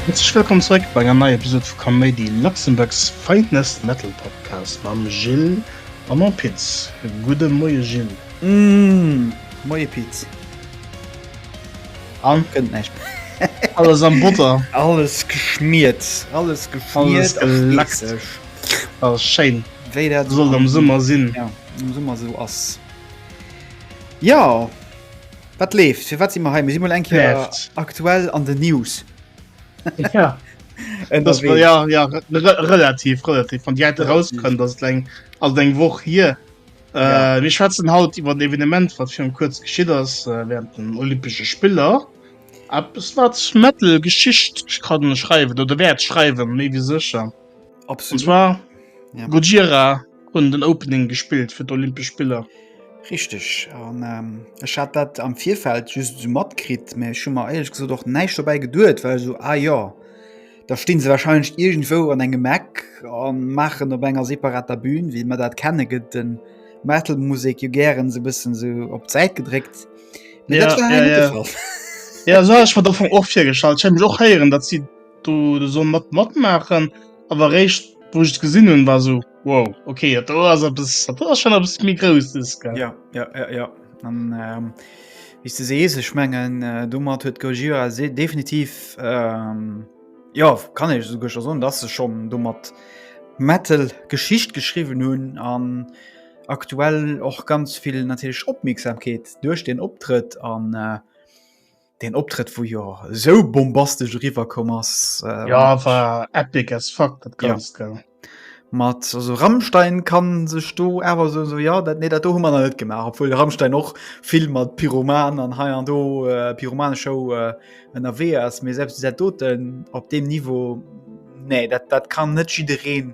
Herzlech wëllkomm zeréck bei enger neier Episode vu Kaméidi, Luxembourg's finest metal podcast mam Gilles a mam Piz. Gudde Moie Gilles. Moie Piz. An kënnt näischt. Alles am Botter. Alles geschmiert. Alles geschmiert a schleckeg. A schéin. Wéi dat esou soll am Summer sinn. Ja, am Summer esou ass. Jo, wat leeft? Firwat si mer hei? Mir si mol eng Kéier aktuell an den News. Ja. Et ass wuel, ja, ja, relativ, relativ. Wann déi hei erakënnt, ass et eng, ass et eng Woch hier. Äh, mir schwätzen haut iwwer d'Evenement, wat virun kuerz geschitt ass, äh, während den Olympesche Spiller. Eppes, wat Metal Geschicht kann schreiwen oder wäert schreiwen, méi wie sécher. Und Absolut. zwar Ja. Gojira hunn den Opening gespillt fir d'Olympesch Spiller. Richtig. An ähm, ech hat dat am Virfeld just so matkritt, mä ech hu mer eierlech gesot och näischt dobäi geduet, well so, ah ja, Da stinn se wahrscheinlech iergendwou an engem Eck a maachen op enger separater Bühn, wéi mer dat kenne, gëtt de Metal-Musek jo gären esou e bëssen esou op d'Säit gedréckt. Mee Ja, dat war hei ja, net de ja. Fall. Ja, so hat ech mir dat vum och virgestallt. Ech hätt mech och héieren, datt si do de Son mat matmaachen, awer eréischt wou ech et gesinn hunn, war esou. Wow, okay, dat do ass eppes, dat do ass schon eppes méi Grousses, gell? Ja, ja, ja, ja. An, ähm, wéi s du sees, ech mengen, äh, domat huet Gojira se definitiv, ähm, ja, kann ech esouguer scho soen, dass se schon domat Metal Geschicht geschriwwen hunn an aktuell och ganz vill natierlech Opmierksamkeet duerch den Optrëtt an, äh, Deen Optrëtt wou jo sou bombastesch eriwwerkomm ass. Ähm, ja war epic as fuck dat ganz ja. gell mat also Rammstein kann sech do awer so, so ja dat nee dat do hu man net gemacht obwohl der Rammstein och viel mat Pyroman an hei an do äh, Pyromane Show äh, ënnerwee äh, ass mir selbst se doten op dem Niveau nee dat dat kann net jidereen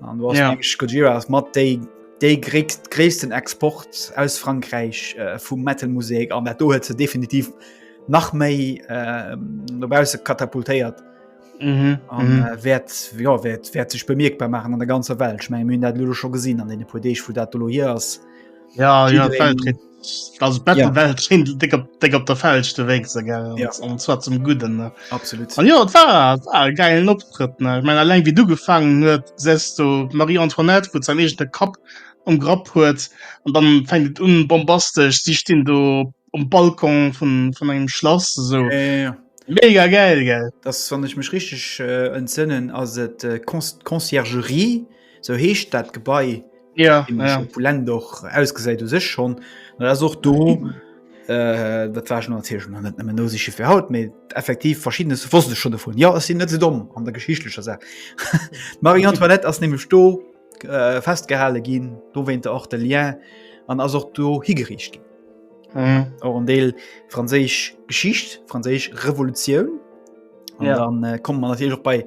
An du hast Ja. nämlich Gojira ass mat déi déi gréckst gréissten Export aus Frankräich äh, vum Metal-Musek an dat do huet se definitiv nach méi äh, dobause katapultéiert Mhm. an Mhm. äh, wäert ja, wäert, wäert sech bemierkbar machen an der ganzer Welt. Ich mein, mir hunn dat lo scho gesinn an den puer Deeg, wo dat do lo hier ass. Ja, ja, Jiddereen- Weltrekord. Also Battlewelt ja. schéint dick op, dick op der falschste Weg ze gell ja. und zwar zum Guten ne? absolut und ja, war, war geilen Optritt ne? ich mein allein wie du gefangen huet sest du Marie Antoinette wo sein echte Kap um Grapp huet und dann fängt un bombastisch sie stehen du um Balkon von von einem Schloss so ja, ja, ja. mega geil gell das fand ich mich richtig äh, entsinnen also äh, Conciergerie So heescht dat Gebai ja, ja. Poulain doch ausgesäit u sech schon ass och do äh, dat war schon net no sech fir haut méi effektiv verschiedene wo schon vun Ja sinn net se domm an der geschichtlecher se Marie Antoinette ass nämlich sto äh, festgehale ginn do wéint der och de Lien an ass och do higericht ginn mhm. an mhm. Deel franséisch Geschicht franséisch Revolutioun ja. dann äh, kommt man natürlich auch bei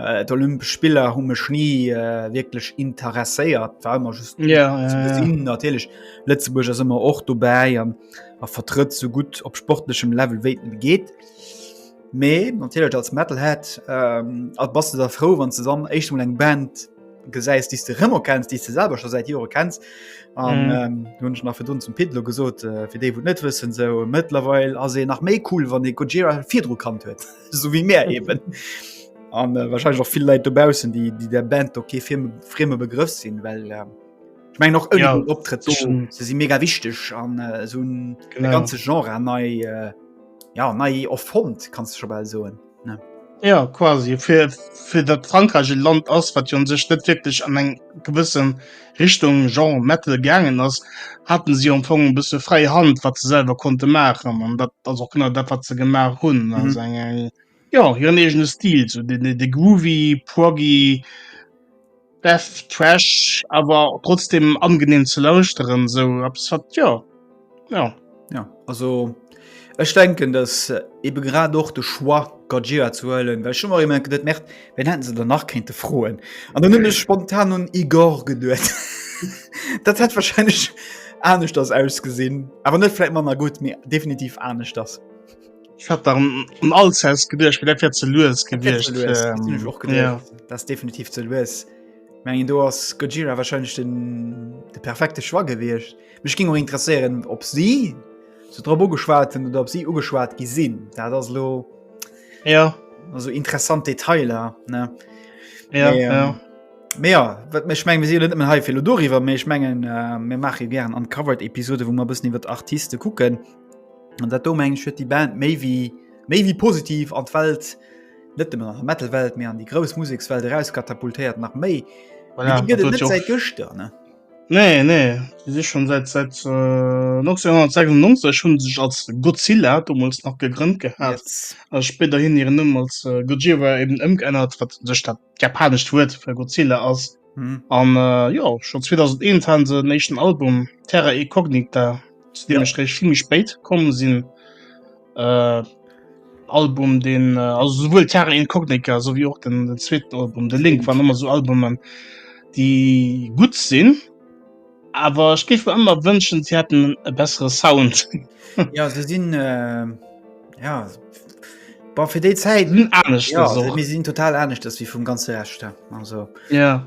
Äh, d'Olympesch Spiller hu mech nie äh, wirklich interesséiert warmer just ja, ja, ja. natürlich Lützeburg as immer och dobäi an a vertritt so gut op sportlechem Level weten geht. Me natürlich als Metal hat ähm, als bas der froh wann ze dann echt eng Band gesäist die du rmmer kennst die ze selber schon seit Jore kennst an mhm. ähm, nach für du zum Pilo gesot äh, fir de wo net wissen sewe as nach méi cool wann de Gojira Fidro kann huet. so wie mé eben. An äh, wahrscheinlich noch viel Leiit dobausen, die die der Band okay Film freme Begriff sinn, well äh, ich mein noch ja, optritt so, se si mega wichtig an äh, so un ganze Genre nei äh, ja nei of Fond kannst du schon bei soen. Ja quasi fir dat Frankreich e Land ass, wat jo sech net wirklich an eng gewëssen Richtung Genre Metal gaangen ass, haten si am Fong e bësse fräi Hand wat se selwer konnte maachen an dat ass och genau dat wat se gemaach hunn. Mhm. Also eng eng jo hiren eegene Stil, sou de de groovy, proggy, death thrash awer trotzdem angenehm ze lauschteren, sou eppes wat jo. Ja. Ja, also ech denken, dass äh, eben grad och de Choix Gajira zu huelen, well schon mal net merkt, wenn hätten se danach kente froen. An dann hunn ech spontan un Igor geduet. dat hat wahrscheinlich anesch das ausgesinn, aber net vielleicht manner gut mir definitiv anesch das. Ich hat dann um alles aus gedcht wie derfir ze loes gewicht das definitiv ze loes. Mengen du hast Gojira wahrscheinlich den de perfekte Schwar gewircht. Ja. Mech ging och interesseieren op sie so drop ugeschwaten oder op sie ugeschwat gi sinn dat ass lo ja also interessant Detailer ne ja, ähm, ja. Me ja wat mech meng si net hei fir doriwer méch menggen äh, mir mache gern an covered Episode, wo man bëssen iwwer Artiste kucken an dat do mengg huet die Band méi wie méi wie positiv an d'Welt net dem nach Metalwelt mé an die grouss Musikswelt eras katapultéiert nach méi voilà, gëcht ne. Nee, nee, déi si schonn säit säit 1996 hu se sech als Godzilla, domols nach, gegrënnt gehat a spéiderhin hiren Numm als Gojira eben ëmgeännert, wat u sech dat japanescht Wuert fir Godzilla ass. An jo, schonn 2001 hate se en éischten Album, Terra Incognita, zu deem ech eréischt vill méi spéit komm sinn. Äh, Album den äh, also sowohl Terra Incognica so wie auch den, den zweiten Album der Link waren immer so Albumen die gut sinn aber ich gebe immer wünschen sie hätten e bessere Sound ja se sinn äh, ja war fir déi Zäit hm, ja, sinn total anecht ass wie vum ganze Rechter also ja.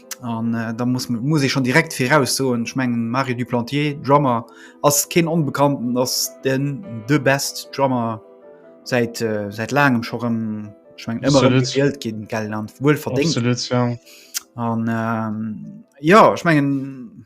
An äh, da muss, muss ich schon direkt viraus so ich mengen Mario Duplantier Drummer ass keen onbekannten ass den de best Drummer seit äh, seit langem schon ich mein, immer Geld gehen Geld an wohl verdingt an ähm, ja ich mengen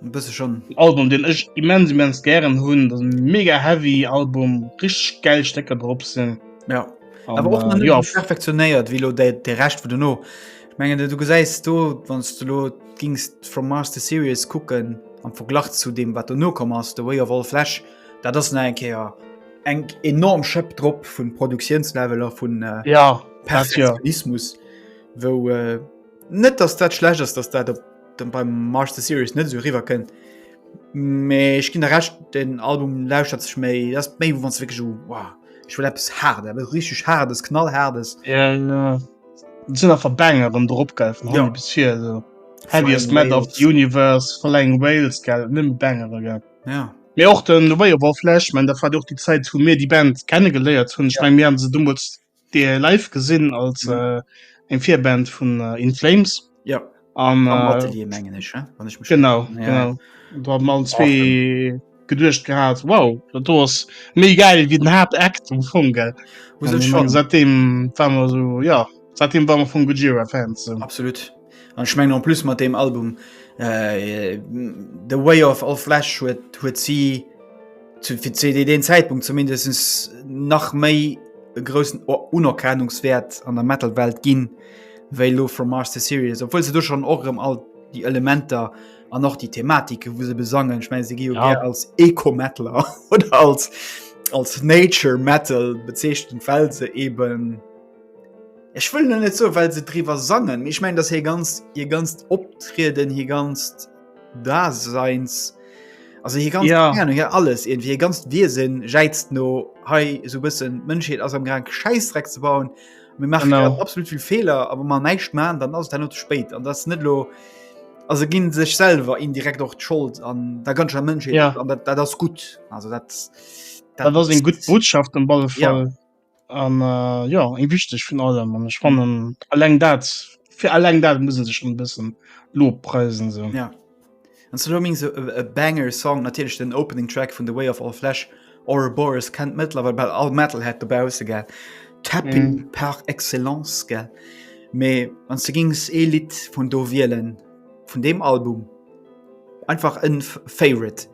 bësse schon Album den ech immens immens gären hunn dat mega heavy Album rich geld Stecker drop sinn ja aber och äh, ja. perfektionéiert wie lo de de recht vu du no mengen du gesäist du wann du lo gingst from Master Series kucken am Verglach zu dem wat du no kom ass de way of all Flash dat ass ne enkeier eng enorm schëpp drop vun Produktionsleveler vun äh, ja Perfektionismus ja. wo äh, Net dass dat schlecht ass, dass dat op dem beim March the Series net esou riwer kënnt. Mee ech ginn der recht, den Album lauschtert sech méi ass méi wann wéi so wow, ech will eppes hart ebe richteg hardes knall hardes. Ja, ja. Sinn einfach Banger erëm drop gell vun hanne ja. bis vir so. Heaviest Metal of the Universe, Flying Wales gell, nëmme Bangere gell. Ja. Mee och den Way of Our Flesh, man der war och déi Zäit hu mir déi Band kenne geléiert hunn. Ech ja. meng mir an se dummels Dir live gesinn als eng Virband vun In Flames. Ja am Atelier mengen ech wann ech mech genau genau do hat mer allen zwee geduecht gehat wow dat do ass méi geil wéi den Haaptakt um Fong gell seitdem war mer so ja seitdem war mer vum Gojira Fan absolut. An ech mengen en plus mat deem Album äh, The Way of All Flash huet huet si zu fir CD den Zäitpunkt zumindest nach méi e groussen Unerkennungswert an der Metalwelt ginn, wéi lo from Mars to Sirius, obwuel se du schon och rem all déi Elementer an och déi Thematike wou se besangen. Ech meine se gi jo ja. als Eco-Metaler oder als als Nature Metal bezeechtent, well se eben Ech wëll nun net sou well se driwwer sangen, mee ech mengen, dass hir ganzt, hir ganzt Optrieden, hir ganzt Daseins, also hir ganz, Ja. ja. hir alles irgendwie, hir ganzt Wiesen jäizt no hei sou bëssen d'Mënschheet ass am Gang Schäissdreck ze bauen. Mir maache Genau. grad absolut vill Feeler, a wa mer näischt maachen, dann ass et herno ze spéit an dass net lo a se ginn sech selwer indirekt och d'Schold an der ganzer Mënschheet Ja. an dat dat ass gutt. Also dat Dat ass eng gutt Botschaft am balle Ja. Fall. An jo eng wichteg vun allem an ech fannen alleng dat fir alleng dat muss sech schon bëssen lob preisen se. Ja. An ze Loming se e Banger Song natierlech den Opening Track vun The Way of All Flash or Boris kennt mëttlerwe bei all Metal hat dobause ge Tapping mm. par excellence ge. Mee an ze gings e Lied vun do wielen vun dem Album einfach en Favorite.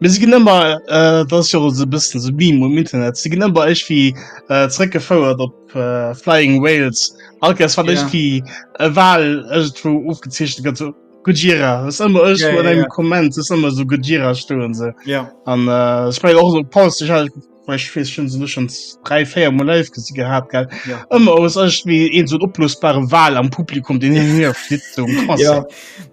Mir si ginn ëmmer äh, dat ass jo se bëssen se Beam um Internet. Si ginn ëmmer eich wie äh, zréckgefouert op äh, Flying Wales. Alke ass wat eich Ja. wie e Wal ëgt wou ofgezeechnet gëtt so Gojira. Ass ëmmer ëg Ja, wo an ja, engem ja. Komment ass ëmmer so Gojira stoen se. Ja. An äh, ech meng och so Paus ich wees schon so schon drei feier mal live gesehen gehabt geil ja. immer aus euch wie in so oplösbare wahl am publikum den hier so ja.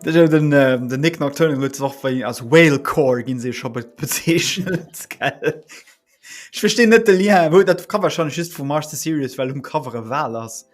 den, den, äh, den nick aktuell wird auch bei als whale core gehen sie schon bezeichnet geil ich verstehe net ja wo dat kann wahrscheinlich ist vom march series weil um covere wahl hast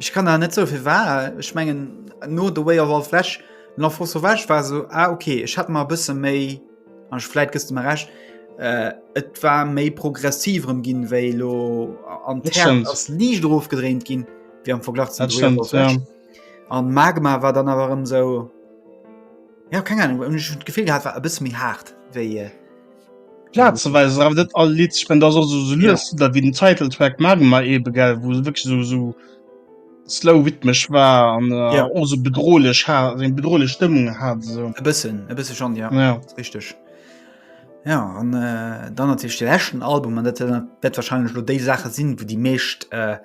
Ech kann awer net soe fir war. Ech mengen no The Way of All Flash L'Enfant Sauvage war sou a ah, okay, ech hat mar bësse méi an fleit gëst mer recht. Äh, et war méi progressiv rëm ginn wéi lo an ass liicht drof gedréint ginn wéi am Verglach ze an Magma war dann awer ëm sou. Ja keng Ahnung hun ech d'Gefill gehat war e bësse méi haart wéi äh, Plazeweis awer net all Lied spend ass also so Ja. lues da wie den Titeltrack Magma eben gell wou se wirklich so so slow rhythmesch war an äh, Ja. och so bedrohlech hat eng bedrohlech Stëmmung hat so e bëssen e bësse schon ja. ja Richteg. Ja an äh, dann natierlech de leschten Album an dat dat wahrscheinlech lo déi Saache sinn, wou déi meescht äh,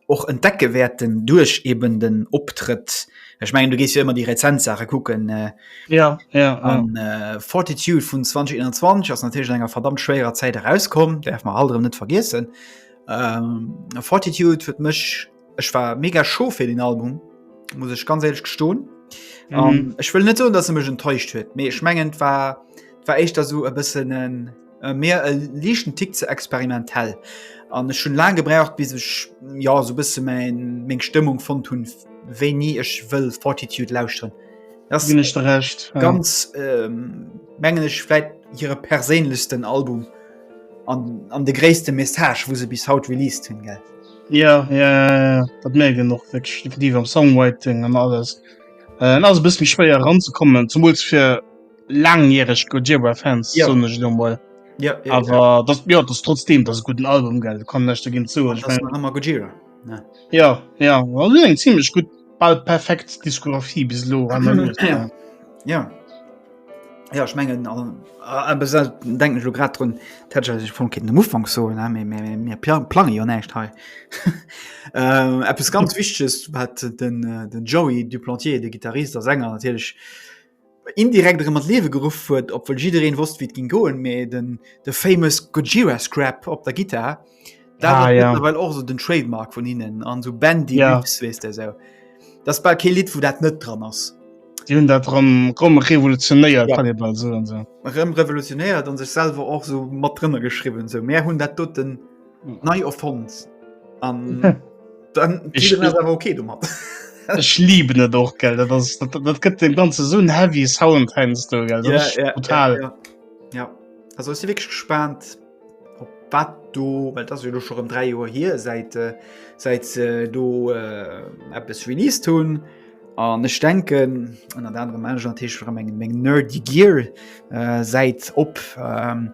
och entdecke wäerten duerch eben den Optrëtt. Ech mengen, du gees jo ëmmer déi rezent Saache kucken. Äh, ja, ja, an, ja. Äh, Fortitude vun 2021 ass natierlech enger verdammt schwéierer Zäit erauskom, därf man halt net vergiessen. Ähm, Fortitude huet mech ech war mega scho fir den Album muss ech ganz ehrlich gestohlen mhm. um, ähm, ich will nicht so dass er mich enttäuscht wird mir ich mengen war war echt da so ein bisschen ein, Äh, mir e lichten Tick ze experimentell. An ech schon lang gebraucht bis ech ja so bisse mein meng Stëmmung von hunn wéi nie ech wëll Fortitude lausren. Das bin ich recht ganz ja. ähm, mengen ech vielleicht ihre perélechsten Album an, an de gréste Message wo se bis haut released hunn ge. Ja, ja dat mé genug die am Songwriting an alles. Äh, also bis mich schwéier ranzukommen zum fir langjähreg Gojira Fans ja. sonne lo mal ja, ja, aber ja. das ja das trotzdem das guten Album geld kann nicht dagegen zu ja, ja ja also, ziemlich gut bald perfekt Diskografie bis lo ja. ja ja ich mengen äh, äh, denken so grad run sich von kind umfang so ne, mir, mir, mir plan, plan ja nicht he ähm, etwas ganz wichtiges hat den äh, den joey du plantier der gitarrist der sänger natürlich indirekt erëm an d'Liewe geruff huet, obwuel jiddereen wosst, wéi et ging goen, mä den, de famous Gojira Scrap op der Gittar, dat Ah, ass ja. mëttlerweil och esou den Trademark vun hinnen, an esou Bendy Ja. Lux, weess de esou. Dat ass bal kee Lidd, wou dat net dran ass. Déi hunn dat rëm, rëm revolutionéiert, Ja. kann ee bal soen, esou. Erëm revolutionéiert an sech selwer och esou mat drënner geschriwwen, esou, Mär hunn dat doten. Nei erfond an dann ich bin aber okay du machst Ech lieben net och gell dat, das, dat, dat gëtt dem ganze so heavy Sound heinst du gell ja, ja, total ja, ja. ja. also ist wirklich gespannt op wat du weil das du schon um 3 Uhr hier seit äh, seit äh, du äh, App es release tun an ech denken an der andere Manager Tisch mengen Menge nerd die Gear äh, seit op ähm,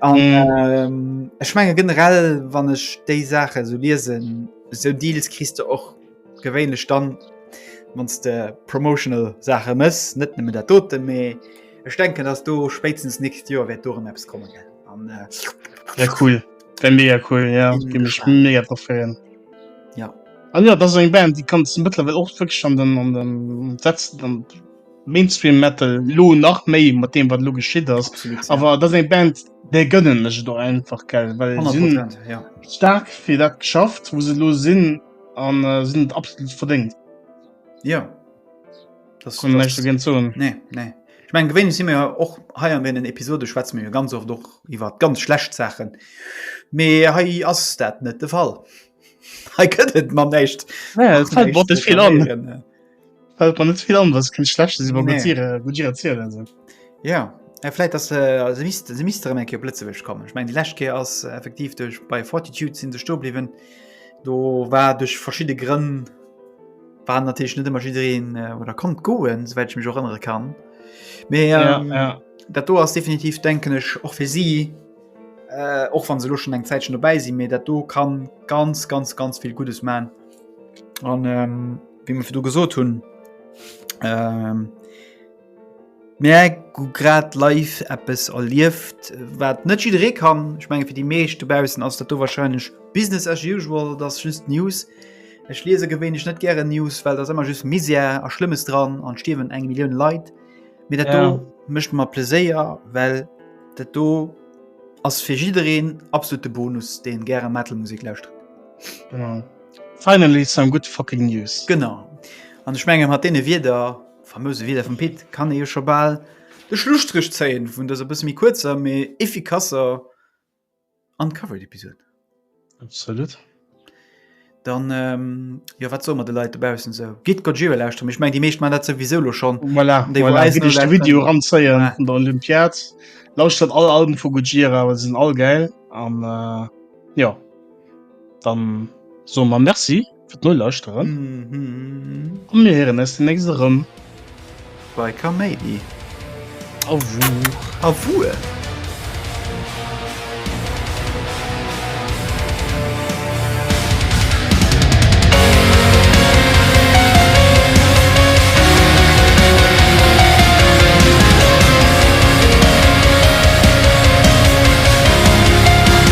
An, ähm, ech menge generell wann ech déi Sache so liesen so Deals kriegst du och gewéinlech dann wann de promotional Sache mess net nëmme der dote méi Ech denken dass du spéitstens nächst Joer werd do Apps kommen an äh, ja, cool Wenn mir ja cool ja, mega drauf freuen. Ja. An ja, dat eng Band, die kann ze Mëttlerwell och wëg an den an den Sätzen an Mainstream Metal lo nach méi mat deem wat lo geschitt ass awer dat eng Band déi gënnen ech do einfach gell well sinn staark fir dat geschafft wo se lo sinn an sinn et absolut verdéngt ja dat hunn ech ginn zou nee nee ech meng gewéinlech si mir jo och hei an deenen Episode schwätze mir jo ganz oft och iwwer ganz schlecht Saachen mee hei ass dat net de Fall hei gëtt et mer näischt nee et fält mer och net vill an. Fällt man net vill an, dass kein schlechtes über nee. Gutire, Gutire erzählen sind. Ja, ja vielleicht dass äh, sie misst sie misst drin enke Blitzeweg kommen. Ich meine die Leschke aus äh, effektiv durch bei Fortitude sind sie sto blieben. Do war durch verschiedene Gründe war natürlich nicht immer jiin äh, oder kommt goen, soweit ich mich auch erinnern kann. Me ähm, ja, ja. dat do ass definitiv denken ech och fir sie äh, och van se luschen eng Zäitchen dobäi si, mir dat do kann ganz ganz ganz viel gutes man. Und, ähm, Wie mir du gesot hunn ähm, Mä gu grad live Appppes erlieft, wat net jideree kann. Ech menge fir déi meescht dobaussen ass dat do warscheinlech Business as usual, dat ass just News. Ech liese gewéinlech net gäre News, well ass ëmmer just Misär a Schlëmmes dran an stierwen eng Millioun Leit. Mee dat do Ja. mécht mer Pleséier, well dat do ass fir jiddereen absolute Bonus, deen gäre Metal Musek lauschtert. Genau. Finally some good fucking news! Genau. An ech menge mat deene Wierder, famouse Wierder vum Pit, kann ee jo scho bal de Schlusstréch zéien vun dëser bësse méi kuerzer, mee effikasser Uncovered Episod. Absolut. Dann, jo, wat soe mer de Leit dobaussen sou? Gitt Gojira lauschteren, mee ech meng déi meescht maachen dat souwisou elo schonn. Voilà, déi wou eis elo lauschteren. Video eranzéie vun der Olympiad. Lauschtert all Alben vu Gojira, well se sinn all gäil an jo. Dann soe mer Merci fir d'Nolauschteren a mir héieren eis déi nächst erëm. Bei Kaméidi. A wuer. A wuer.